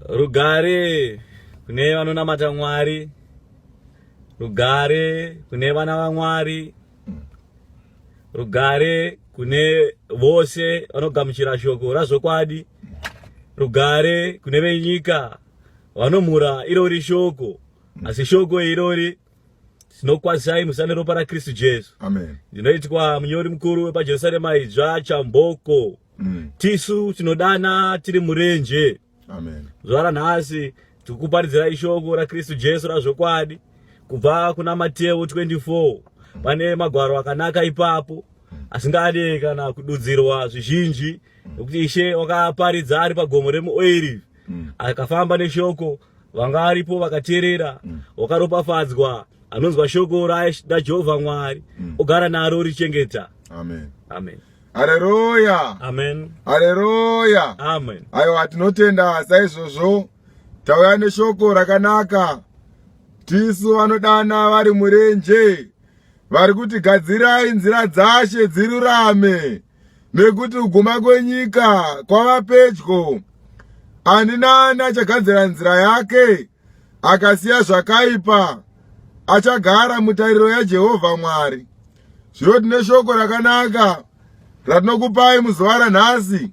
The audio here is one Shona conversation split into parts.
Rugare kune vanonamata Mwari, rugare kune vana vaMwari, rugare kune vose vanogamuchira shoko razvokwadi, rugare kune venyika vanomhura irori shoko, asi shoko irori tinokwazisai musa neropa rakristu jesu ndinoitwa munyori mukuru wepajerusarema idzva chamboko mm. tisu tinodana tiri murenje zuva ranhasi tiri kuparidzirai shoko rakristu jesu razvokwadi kubva kuna mateo 24 mm. pane magwaro akanaka ipapo mm. asingade kana kududzirwa zvizhinji mm. nokuti ishe wakaparidza ari pagomo remuoirivi mm. akafamba neshoko vanga varipo vakateerera mm. wakaropafadzwa anonzwa shoko rajehovha mwari mm. ogara naro richengeta amen amen haleluya amen haleluya amen aiwa tinotenda saizvozvo tauya neshoko rakanaka tisu vanodana vari murenje vari kuti gadzirai nzira dzashe dzirurame nekuti kuguma kwenyika kwava pedyo ani naani achagadzira nzira yake akasiya zvakaipa achagara mutariro yajehovha mwari zvino tine shoko rakanaka ratinokupai muzuva ranhasi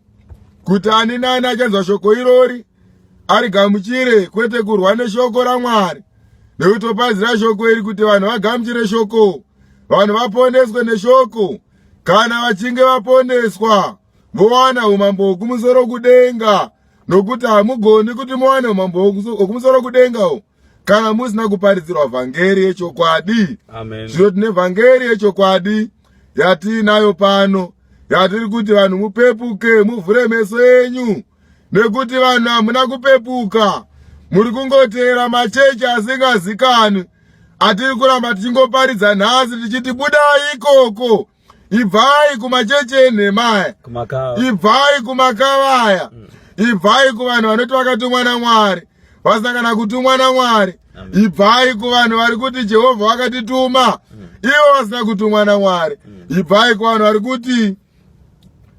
kuti ani naani achanzwa shoko irori arigamuchire kwete kurwa neshoko ramwari nekuti opazira shoko iri kuti vanhu vagamuchire shoko vanhu vaponeswe neshoko kana vachinge vaponeswa mowana umambo hwokumusoro kudenga nokuti hamugoni kuti mowane umambo hwokumusoro kudenga o kana musina kuparidzirwa vhangeri yechokwadi zvino tine vhangeri yechokwadi yatiinayo pano yatiri kuti vanhu mupepuke muvhure meso enyu nekuti vanhu hamuna kupepuka muri kungoteera machechi asingazikanwi atiri kuramba tichingoparidza nhasi tichiti budai ikoko ibvai kumachechi enhemaya ibvai kumakavaya mm. ibvai kuvanhu vanoti vakatumwa namwari vasina kana kutumwa namwari ibvai kuvanhu vari kuti jehovha vakatituma mm. ivo vasina kutumwa namwari mm. ibvai kuvanhu vari kuti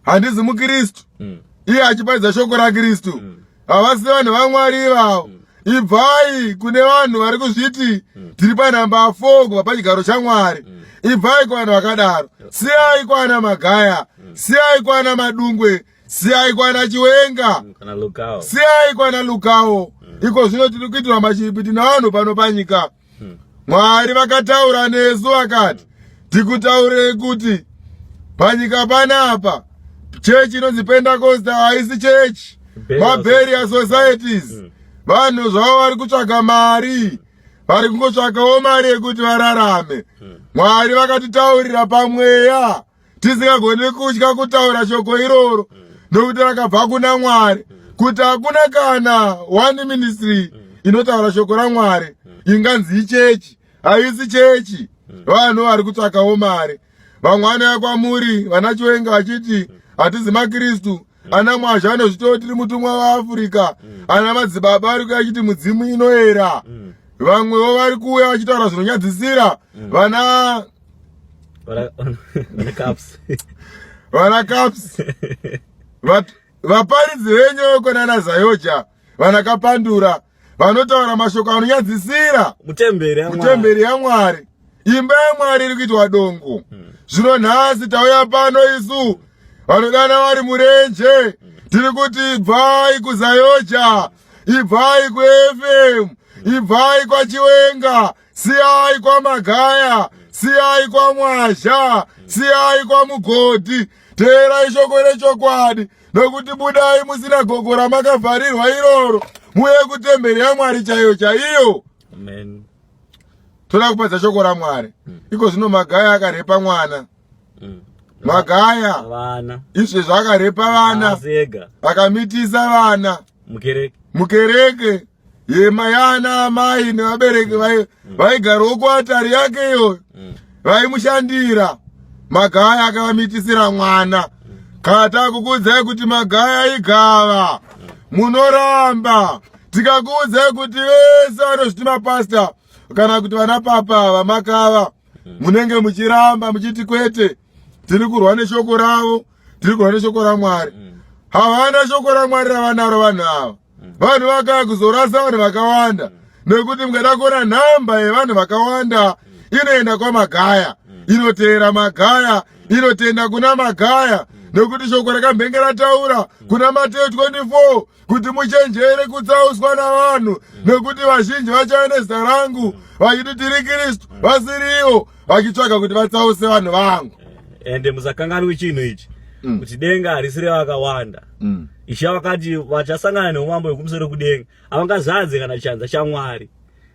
handizi mukristu mm. iye achiparidza shoko rakristu mm. havasi vanhu vamwari ivavo mm. ibvai kune vanhu vari kuzviti mm. tiri panhamba 4 kubva pachigaro chamwari mm. ibvai kuvanhu vakadaro siyai kwana magaya mm. siyai kwana madungwe siyai kwana chiwenga mm, siyai kwana lukawo mm. iko zvino tiri kuitirwa machipi tinavanhu pano panyika mm. hmm. mwari vakataura nesu vakati tikutaurei kuti panyika panapa chechi inonzi pentecosta haisi chechi maberia societies hmm. vanhu zvavo vari kutsvaga mari vari kungotsvagawo mari yekuti vararame hmm. mwari vakatitaurira pamweya tisingagoni kutya kutaura shoko iroro mm. nokuti rakabva kuna mwari mm. kuti hakuna kana one ministry mm. inotaura shoko ramwari inganzi ichechi haisi chechi vanhu vari kutsvakawo mari vamwe vanouya kwamuri vana chiwenga vachiti hatizi makristu ana mwazhi anozvitoo tiri mutumwa waafurika ana madzibaba vari kuya achiti mudzimu inoera vamwewo vari kuuya vachitaura zvinonyadzisira vana vana caps vaparidzi venyu veko nana zayoja vana kapandura vanotaura mashoko anonyadzisira mutemberi yamwari imba yamwari iri kuitwa dongo hmm. zvino nhasi tauya pano isu vanodana vari murenje hmm. tiri kuti ibvai kuzayoja ibvai kufm ibvai kwachiwenga siyai kwamagaya siyai kwamwazha siyai kwamugodhi teerai shoko rechokwadi nokuti budai musina gogo ramakavharirwa iroro muye kutemberi yamwari chaiyo chaiyo toda kupadza shoko ramwari mm. iko zvino magaya akarepa mwana mm. magaya izvi zvakarepa vana akamitisa vana mukereke yema yana amai nevabereki vaigarawo mm. kuatari yake iyoyo mm. vaimushandira magaya akavamitisira mwana mm. kana takukuudzai kuti magaya igava munoramba tikakuudzai kuti vese vanozviti mapasta kana kuti vana papa vamakava munenge muchiramba muchiti kwete tiri kurwa neshoko ravo tiri kuva neshoko ramwari mm. havana shoko ramwari ravanaro vanhu ava mm. vanhu vakaya kuzorasa vanhu vakawanda mm. nekuti mukada kuona nhamba yevanhu vakawanda inoenda kwamagaya inoteera magaya inotenda kuna magaya nekuti shoko rakamhenge rataura kuna mateyo 24 kuti muchenjere kutsauswa navanhu mm. nekuti vazhinji vachave nezita rangu mm. vachiti tiri kristu mm. vasiriwo vachitsvaga kuti vatsause vanhu vangu eh, ende musakanganwi chinhu ichi kuti denga harisi revakawanda ishe vakati vachasangana neumambo hwekumusoro kudenga avangazadze kana chanza chamwari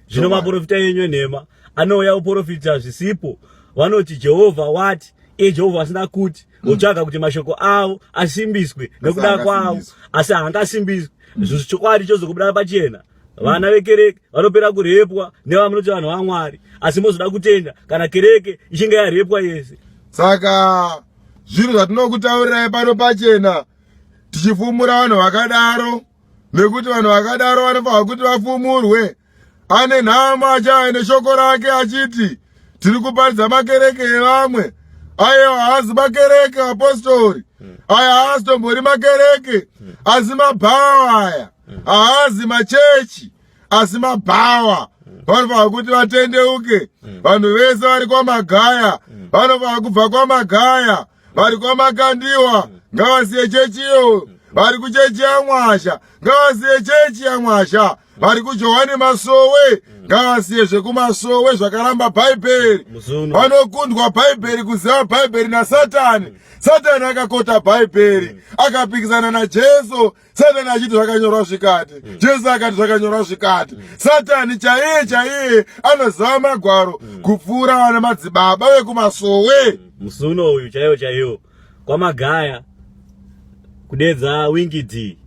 zvino maprofita enyu enhema anouya kuprofita zvisipo vanoti jehovha wati iye jehovha asina kuti votsvaga mm. kuti mashoko avo asimbiswe nekuda kwavo asi haangasimbiswe mm. zvinhu chokwadi chozokubuda pachena vana vekereke vanopera kurepwa nevamunoti vanhu vamwari asi mozoda kutenda kana kereke ichinge yarepwa yese saka zvinhu zvatinokutaurirai pano pachena tichifumura vanhu vakadaro nekuti vanhu vakadaro vanofanirwa kuti vafumurwe ane nhamo achaya neshoko rake achiti tiri kuparidza makereke evamwe ayo haazi makereke apostori aya haazi tombori makereke asi mabhawa aya haazi machechi asi mabhawa vanofana kuti vatendeuke vanhu vese vari kwamagaya vanofana kubva kwamagaya vari kwamakandiwa ngavasiye chechi iyo vari kuchechi yamwasha ngavasiye chechi yamwasha vari kujohani masowe ngavasiye zvekumasowe zvakaramba bhaibheri vanokundwa bhaibheri kuziva bhaibheri nasatani satani akakota bhaibheri akapikisana najesu satani achiti zvakanyorwa zvikati mm. jesu akati zvakanyorwa zvikati mm. satani chaiye chaiye anoziva magwaro mm. kupfuura vana madzibaba vekumasowe musi uno uyu chaiyo chaiyo kwamagaya kudedza wingi d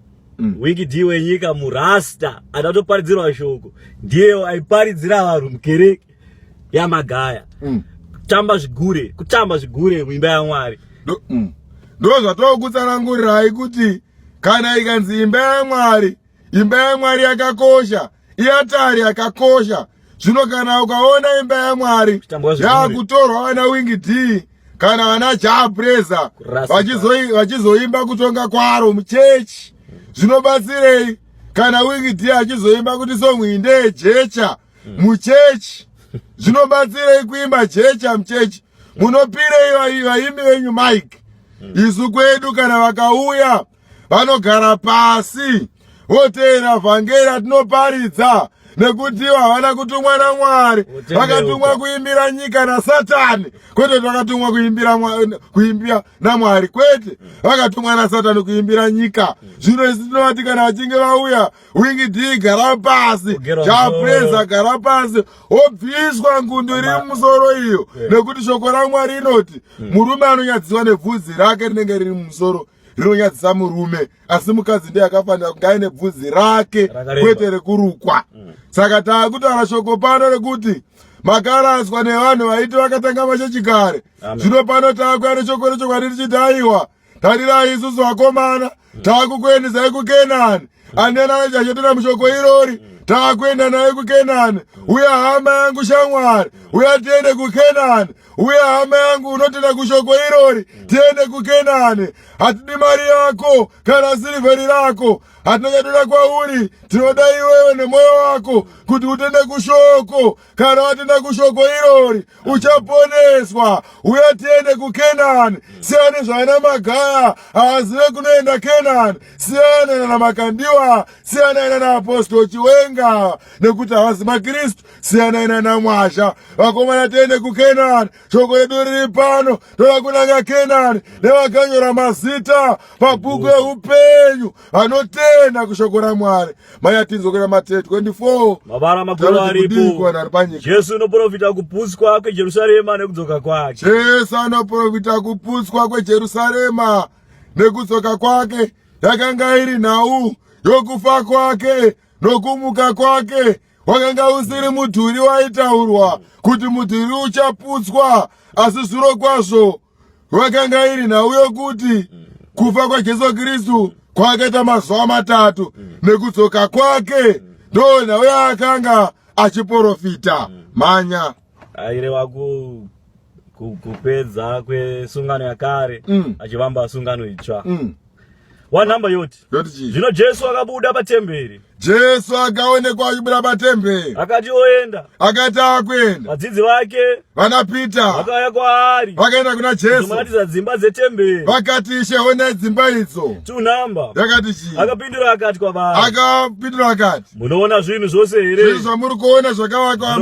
wingi d wenyika murasta adatoparidzirwa shoko ndiye aiparidzira vanhu mukereke ya magaya mm. tamba zvigure kutamba zvigure muimba yamwari mm. ndo mm. zvatokutsanangurirai kuti kana ikanzi imba yamwari imba yamwari yakakosha iatari yakakosha zvino kana ukaona imba yamwari yakutorwa vana wingi d kana vana japresa vachizoimba kutonga kwaro muchechi zvinobatsirei kana wingi d achizoimba kuti songu indeyejecha mm. muchechi zvinobatsirei kuimba chechi amuchechi munopirei vaimbi venyu mike mm. isu kwedu kana vakauya vanogara pasi voteera vhangeri atinoparidza nekuti havana kutumwa namwari vakatumwa kuimbira nyika nasatani kwete vakatumwa kuimbira kuimbira namwari kwete vakatumwa nasatani kuimbira nyika zvino isi tinovati kana vachinge vauya wingidi gara pasi japreza gara pasi wobviswa ngundu iri mumusoro iyo nekuti shoko ramwari rinoti hmm. murume anonyadziswa nebvudzi rake rinenge riri mumusoro rinonyadzisa murume asi mukadzi ndiye akafanira kunge aine bvudzi rake kwete rekurukwa hmm. saka taakutaura shoko pano rekuti makaraswa nevanhu vaiti vakatanga mashechikare zvino pano taakuya neshoko rechokwadi richiti aiwa tarirai isusu vakomana takukuendesai kukenani anena achachetura mushoko irori takuenda naye kukenani uye hama yangu shamwari uye tiende kukenani uye hama yangu unotenda kushoko irori tiende kukenani hatidi mari yako kana sirivheri rako hatina chatoda kwauri tinoda iwewe nemwoyo wako kuti utende kushoko kana watenda kushoko irori uchaponeswa uya tiende kukenani siyani zvaina magaya haazive kunoenda kenani siyana nana makandiwa siyanai nana apostol chiwenga nekuti havazi makristu siyanai nana mwazha vakomana tiende kukenani shoko redu riri pano toda kunanga kenani nevakanyora mazita pabhuku yeupenyu vanotenda kushoko ramwari mai atinzokera mate 24 jesu unoprofita kuputswa kwejerusarema nekudzoka kwake jesu anoprofita kuputswa kwejerusarema nekudzoka kwake yakanga iri nhau yokufa kwake nokumuka kwake wakanga usiri mudhuri waitaurwa kuti mudhuri uchaputswa asi zviro kwazvo vakanga iri nhau yokuti kufa kwajesu kristu kwakaita mazuva matatu nekudzoka kwake ndo nhau yaakanga achiprofita mhanya aireva ku kupedza kwesungano yakare mm. achivamba sungano itsva mm. wanhamba yoti yoti chii zvino jesu akabuda patemberi jesu akaonekwa achibuda patemberi akati oenda akati akuenda vadzidzi vake vana pita vakauya kwaari vakaenda kuna jesu vakaratidza dzimba dzetemberi vakati ishe onai dzimba idzo tunhamba yakati chii akapindura akati kwavari akapindura akati munoona zvinhu zvose here zvinhu zvamuri kuona zvakavakwa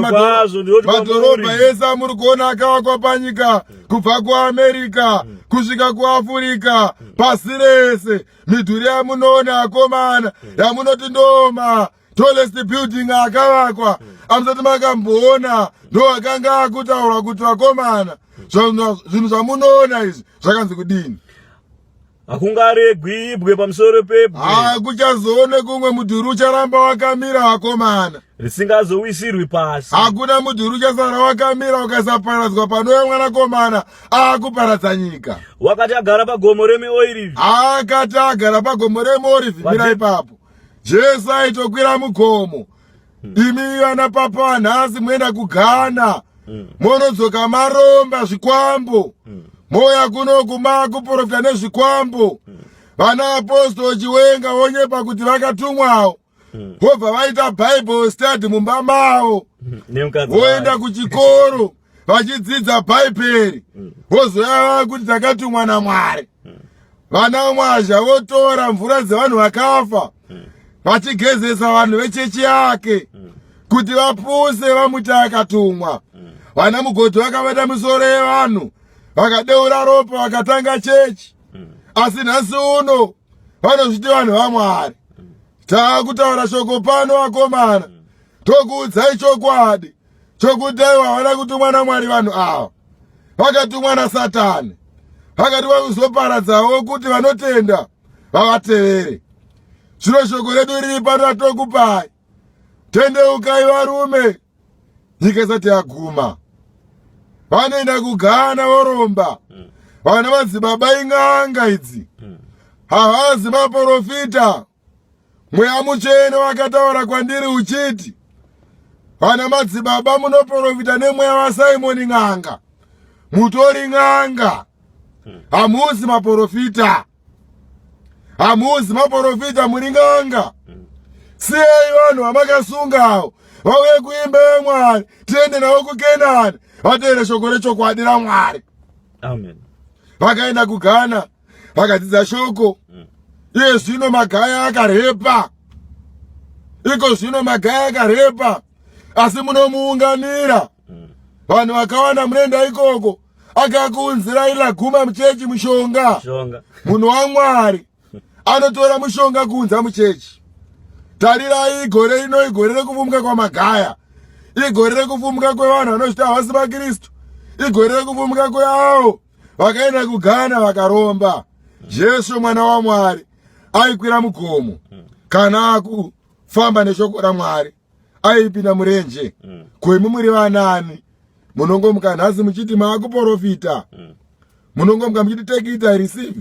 madhorobha ese amuri kuona akavakwa panyika kubva kuamerica kusvika kuafurika pasi rese midhuri yamunoona akomana yamunoti ndoma tolest building akavakwa amusati makamboona ndo akanga akutaura kuti vakomana zvinhu zvamunoona izvi zvakanzi kudini hakungaregwi ibwe pamusoro pebwe hakuchazoone kumwe mudhuri ucharamba wakamira vakomana risingazowisirwi pasi hakuna mudhuri uchasara wakamira ukasaparadzwa panouya mwanakomana akuparadza nyika wakati agara pagomo remeoirivi akati agara pagomo remeorivi mira ipapo jesu aitokwira mugomo imi ana papa nhasi moenda kugana mm. monodzoka maromba zvikwambo mm. moya kunoku makuprofita nezvikwambo mm. vana apostol chiwenga vonyepa kuti vakatumwawo vobva vaita bible study mumba mavo voenda kuchikoro vachidzidza bhaibheri mm. vozouya kuti takatumwa namwari mm. vana mwazha votora mvura dzevanhu vakafa mm. vachigezesa vanhu vechechi yake kuti vapuse vamuti akatumwa vana mugodhi vakabata misoro yevanhu vakadeura ropa vakatanga chechi asi nhasi uno vanozviti vanhu vamwari taakutaura shoko pano vakomana tokuudzai chokwadi chokuti aiwa havana kutumwa namwari vanhu ava vakatumwa nasatani vakati vakuzoparadzawo kuti vanotenda vavatevere zvino shoko redu riri pano ratokupai tendeukai varume nyika isati yaguma vanoenda kugana voromba vana madzibaba ing'anga idzi havazi maporofita Mweya mutsvene wakataura kwandiri uchiti, Vana madzibaba munoprofita nemweya waSimoni n'anga. Mutori n'anga. Hamuzi maprofita. Hamuzi maprofita muri n'anga. Siyai vanhu vamakasungawo vauye kuimba yaMwari tiende navo kuKenani vateere shoko rechokwadi raMwari. Amen. Vakaenda kuGhana. vakadzidza shoko mm. iye zvino magaya akarepa iko zvino magaya akarepa asi munomuunganira mm. vanhu vakawanda munoenda ikoko akakuunzirai laguma muchechi mushonga munhu wamwari anotora mushonga kuunza muchechi tarirai igore rino igore rekuvumbuka kwamagaya igore rekuvumbuka kwevanhu vanozvita havasi vakristu igore rekuvumbuka kweavo vakaenda kugana vakaromba jesu mwana wamwari aikwira mugomo kana akufamba neshoko ramwari aipinda murenje ko imi muri vanani munongomuka nhasi muchiti maakuporofita munongomuka muchiti take it i receive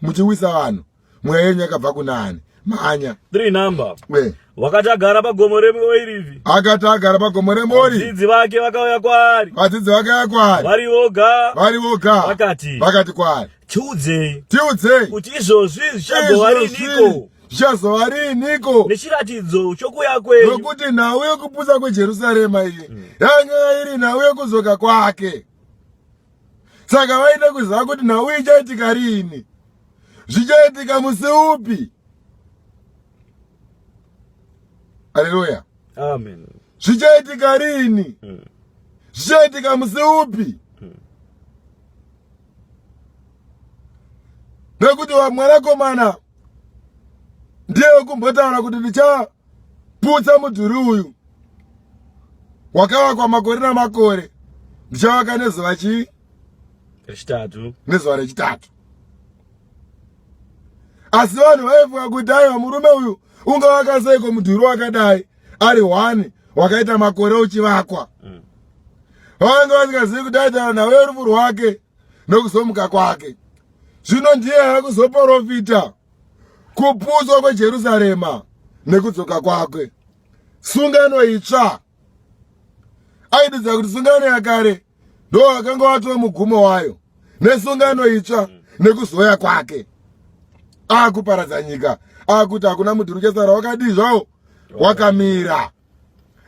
muchiwisa vanhu mweya yenyu yakabva kunani manya three number we wakati agara pagomo remuorivi akati agara pagomo remuorivi vadzidzi vake vakauya kwaari vadzidzi vakauya kwaari vari voga vari voga vakati vakati kwaari tiudzei tiudzei kuti izvozvi zvichagova riniko zvichazova riiniko nechiratidzo chokuya kwenyu nokuti nhau yokupusa kwejerusarema iyi hmm. yanga iri nhau yokuzoka kwake saka vaida kuziva kuti nhau ichaitika riini zvichaitika musi upi aleluya amen zvichaitika riini mm. zvichaitika musi upi mm. nekuti mwanakomana ndiye wekumbotaura kuti ndicha putsa mudhuri uyu wakavakwa makore namakore ndichavaka nezuva chii rechitatu nezuva rechitatu asi vanhu vaifunga kuti aiwa murume uyu ungavaka seiko mudhuri wakadai ari one wakaita makore uchivakwa mm. vange vasingazivi kuti aitana nawe rufu rwake nokuzomuka kwake zvino ndiye akuzoporofita kuputswa kwejerusarema nekudzoka kwake sungano itsva aididza kuti sungano yakare ndo akanga watova mugumo wayo nesungano itsva nekuzoya kwake akuparadza nyika akuti hakuna mudhuri uchasara wakadii zvawo wakamira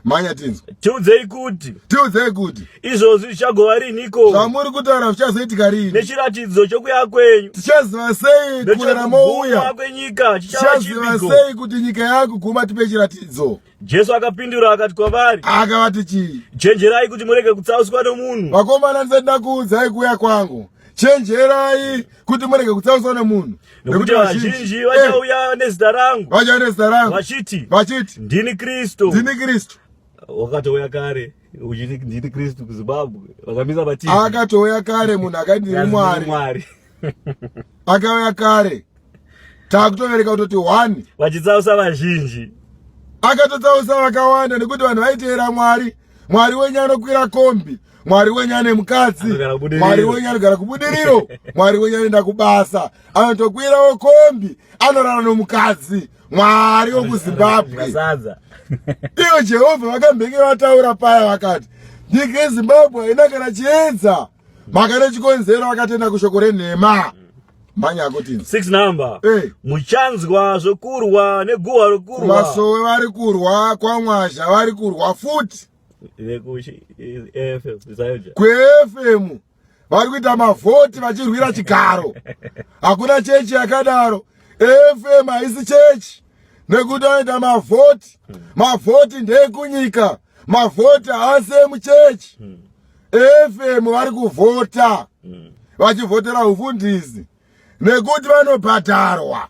manya tinzwa tiudzei kuti tiudzei kuti izvozvi zvichagova riniko zvamuri kutaura zvichazoitika rini nechiratidzo chokuya kwenyu tichaziva sei kuera mouya kwenyika tichaziva sei kuti nyika yakuguma tipe chiratidzo jesu akapindura akati kwavari akavati chii chenjerai kuti murege kutsauswa nomunhu vakomana ndisati ndakuudzai kuuya kwangu chenjerai kuti murege kutsauswa nemunhu nekuti vazhinji vachauya eh. nezita rangu vachauya nezita rangu vachiti vachiti ndini kristu ndini kristu wakatouya kare uchiti ndini kristu kuzimbabwe vakamisa vati akatouya kare munhu akati ndini mwari akauya kare takutovereka kutoti one vachitsausa vazhinji akatotsausa vakawanda nekuti vanhu vaiteera mwari mwari wenyu anokwira kombi mwari wenyu ane mukadzi mwari wenyu anogara kubudiriro mwari wenyu anoenda kubasa anotokwirawo kombi anorara nomukadzi mwari wokuzimbabwe ivo jehovha vakambenge vataura paya vakati nyika yezimbabwe haina kana chiedza mhaka nechikonzero vakatenda kushoko renhema mhanya akuti six number hey. Eh. muchanzwa zvokurwa neguhwa rokurwa vasowe vari kurwa kwamwazha vari kurwa futi kuefm vari kuita mavhoti vachirwira chigaro hakuna chechi yakadaro efm haisi chechi nekuti anoita mavhoti mavhoti ndekunyika mavhoti haasi emuchechi efm vari kuvhota vachivhotera ufundisi nekuti vanobhadharwa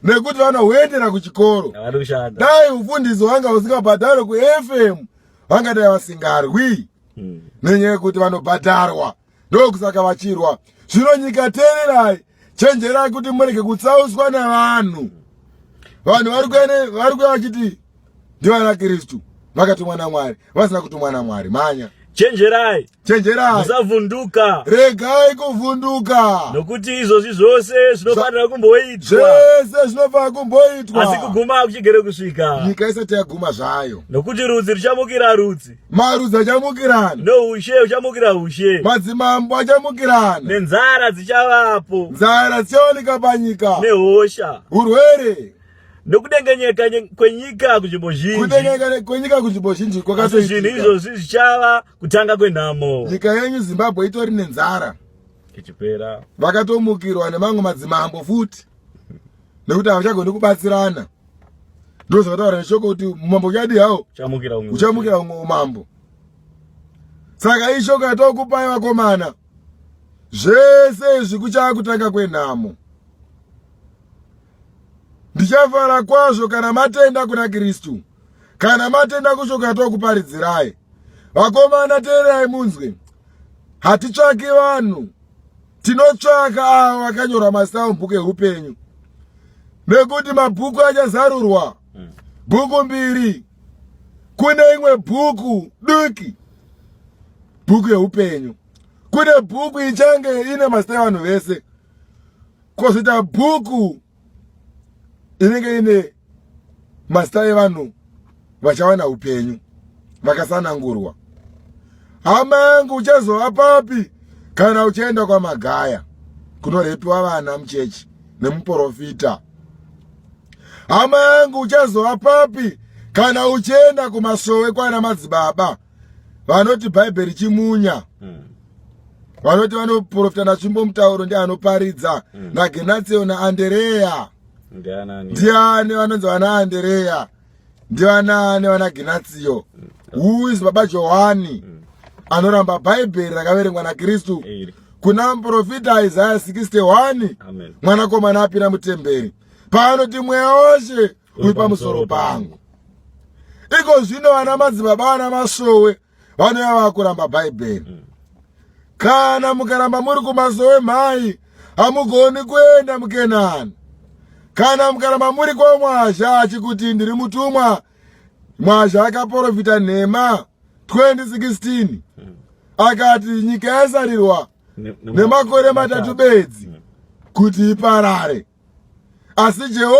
nekuti vana huendera kuchikoro dai ufundisi wanga usingabhadharwe kufm vangadai vasingarwi hmm. nenyaya yekuti vanobhadharwa ndokusaka vachirwa zvino nyika teererai chenjerai kuti murege kutsauswa nevanhu vanhu vari kuya vachiti ndivana kristu vakatumwa namwari vasina kutumwa namwari manya chenjerai chenjerai musavhunduka regai kuvhunduka nokuti izvozvi zvose zvinofanira kumboitwa zvese zvinofanira kumboitwa asi kuguma akuchigere kusvika nyika isati yaguma zvayo nokuti rudzi ruchamukira rudzi marudzi achamukirana noushe uchamukira ushe madzimambo achamukirana nenzara dzichavapo nzara dzichawanika panyika nehosha urwere nokudengenyeka kwenyika kunzvimbo zhinji kudengenyeka kwenyika kunzvimbo zhinji kwakati zvinhu izvozvi zvichava kutanga kwenhamo nyika yenyu zimbabwe itori nenzara ichipera vakatomukirwa nemamwe madzimambo futi nekuti havachagoni kubatsirana ndo zvakataura neshoko kuti umambo uchadi hawo uchamukira umwe umambo saka ishoko yatokupai vakomana zvese izvi kuchava kutanga kwenhamo Ndichafara kwazvo kana matenda kuna Kristu, kana matenda kushoko yatokuparidzirai. Vakomana, teererai munzwe, hatitsvaki vanhu, tinotsvaka avo vakanyorwa mazita mubhuku eupenyu, nekuti mabhuku achazarurwa bhuku mbiri. Kune imwe bhuku duki, bhuku yeupenyu, kune bhuku ichange ine mazita evanhu vese kozoita bhuku inenge ine mazita evanhu vachawana upenyu vakasanangurwa hama yangu uchazova papi kana uchienda kwamagaya kunorepiwa vana muchechi nemuprofita hama yangu uchazova papi kana uchienda kumasowe kwana madzibaba vanoti bhaibheri chimunya mm. vanoti vanoprofita natsvimbo mutauro ndi anoparidza mm. nagenatio naandereya ndiani vanonzi vana andereya ndivanaani vana genatio mm. who is baba johani mm. anoramba bhaibheri rakaverengwa nakristu kuna muprofita isaya 61 mwanakomana apira mutemberi paanoti mweya wose uri pamusoro pangu iko zvino vana madzibaba vana masowe vanouya vava kuramba bhaibheri mm. kana mukaramba muri kumasowe mhai hamugoni kuenda mukenani kana mukaramba muri kwamwazha achikuti ndiri mutumwa mwazha akaporofita nhema 2016 mm. akati nyika yasarirwa nemakore matatu bedzi mm. kuti iparare asi jehova